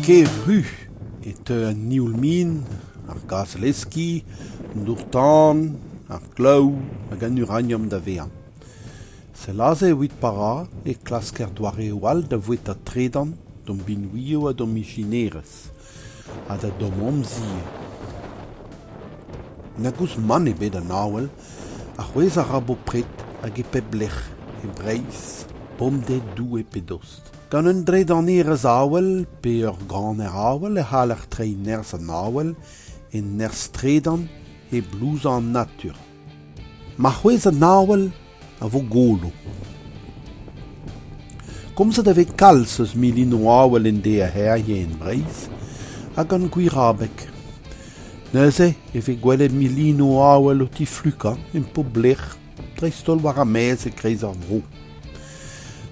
Kevru e teu an nioul-min, ar gazh-leskiñ, an dour-tan, ar glav hag an uraniom da vezañ. Sell aze evit pa ra e klasker doareoù all da voueta tredan d'hom binvioù ha d'hom ijinerezh. ha da domp-amzer. Na gouzout mann ebet an avel, ha c'hwezh a ra bopred hag e pep lec'h, e Breizh, bemdez Doue pe dost. Gant un dredanerezh avel pe ur ganer avel e c'haller treiñ nerzh an avel e nerzh-tredan e blouzañ an natur. Ma c'hwezh an avel a vo golo. Komzet a vez kalz eus milinoù avel endeerc'herien Breizh ha gant gwir abeg. Neuze e vez gwelet milinoù avel o tiflukañ en poblec'h dreist-holl war ar maez e-kreiz ar vro.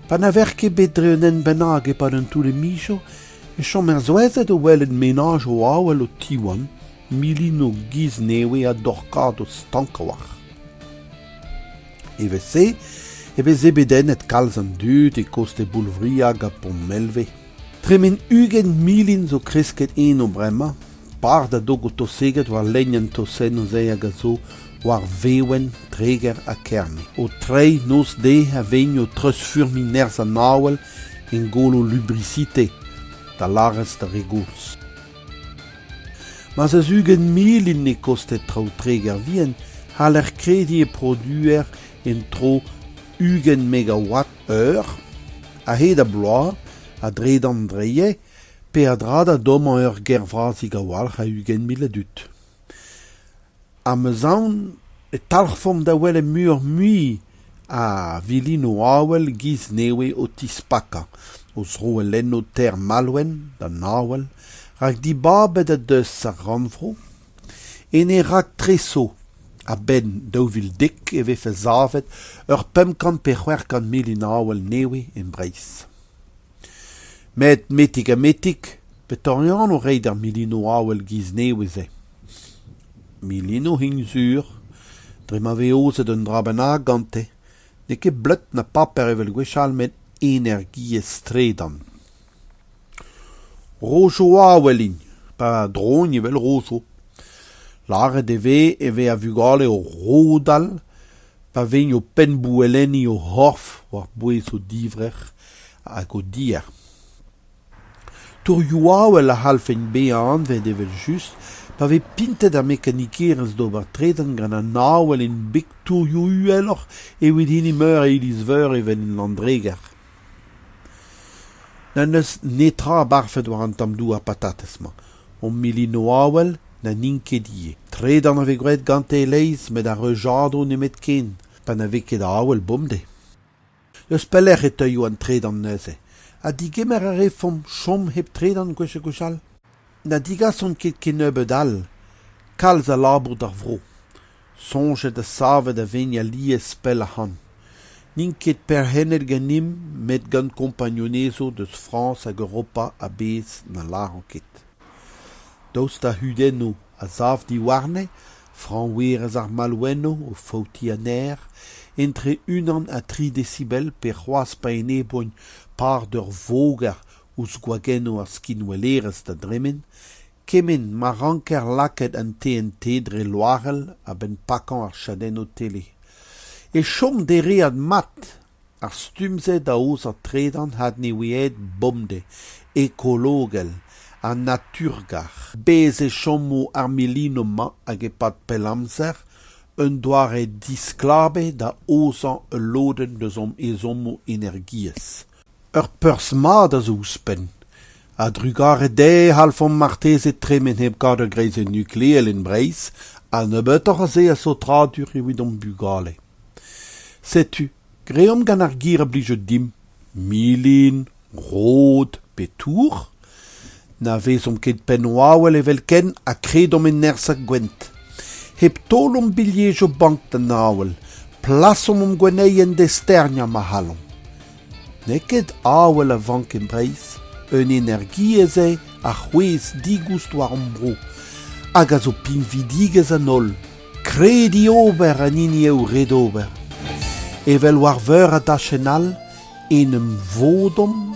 Pa na vec'h ket bet dre un hent bennak e-pad an toull-mijo e chom er souezhet o welet menaj o avel o tiwan milinoù giz nevez ha dorkadoù stank a-walc'h. Evel-se e veze bedennet kalz an dud e koste Boulvria ha Pontmelve. Tremen ugent milin zo kresket eno bremañ, par da dog o toseget war lenn an tosennoù se hag a zo war Vewen, Treger ha Kerne. O treiñ noz-de a vegn o treuzfurmiñ nerzh an awel en golo Lubrisite, da lârez d'ar re gozh. Ma'z eus ugent mil int e kosted traoù Treger vihan c'haller krediñ e produer en-dro ugent megawatt eur a-hed ar bloaz a-dredan dreier peadra da dommañ ur gêr vras a-walc'h a ugent mil a dud. Amazaon e talc'hfomp da welet muioc'h-mui a vilinoù avel giz nevez o tispakañ o zroellennoù ter Malwen d'an avel rak dibabet o deus ar rannvro. Ene raktreso a-benn daou vil dek e vefe savet ur pemp kant pe c'hwec'h kant milin avel nevez e Breizh. Met metik-ha-metik, petore anv reiñ d'ar milinoù avel giz-nevez-se ? Milinoù int sur, dre ma vez aozet un dra bennak gante, n'eo ket bleud na paper evel gwechall met energiezh-tredan. Rojoù avel int, pa drougn evel rozoù. Lâret e vez e vez a-vugale o rodal pa vegno penn-bouellenniñ o c'horf war-bouez o divrec'h hag o dier. Tourioù awel a c'hallfent bezañ anvet evel-just pa vez pintet ar mekanikerezh d'ober tredan gant an awel en beg tourioù uheloc'h evit hini meur a iliz-veur evel en Landreger. N'en deus netra abarfet war an tamm douar patatez-mañ. Hon milinoù avel na n'int ket ivez. Tredan a vez graet gante e-leizh met ar reujadoù nemetken, pa na vez ket avel bemdez. N'eus pelec'h e teuio an tredan neuze. Ha digemer a refomp chom hep tredan gwechek gwechall ? Na digasont ket kennebeut all kalz a labour d'ar vro soñjet ha savet a vegn alies pell ac'hann n'int ket perc'hennet ganimp met gant kompagnunezho deus frañs hag europa a-bezh na lâran ket daoust da c'hudennoù a sav diwarne fraoñverez ar malwenno o faoutiñ aner entre unan ha tri desibel pe c'hoazh pa enebougn par d'ur voger ouzh gwagennoù ar skinwellerezh da dremen, kement ma ranker lakaat an TNT dre loarell a-benn pakañ ar chadennoù tele. E chom dereat mat ar stumm-se da aozañ tredan adnewiaet bomdez ekologel ha naturgar. Bez e chomo ar milinoù-mañ hag e-pad pell amzer un doare disklabet da aozañ ul lodenn eus hom ezhommoù energiezh. Ur perzh mat a zo ouzhpenn. A-drugarez dezhe e c'hallfomp marteze tremen hep kaout ur greizenn nukleel en Breizh ha nebeutoc'h a se a saotradur evit hom bugale. Setu, greomp gant ar gir a blije dimp, milin, rod pe tour. Na vezomp ket penn-wawel evelkent ha kredomp e nerzh ar gouent. Hep taol hom bilhejo bank d'an awel, plasomp hom gwenneien d'e sterniañ ma c'hallomp. N'eo ket awel a vank e Breizh, un energiezh eo a c'hwezh digoust war hom bro, hag a zo pinvidigezh an holl. Krediñ ober an hini eo ret ober. Evel war veur a dachenn all, en em vodomp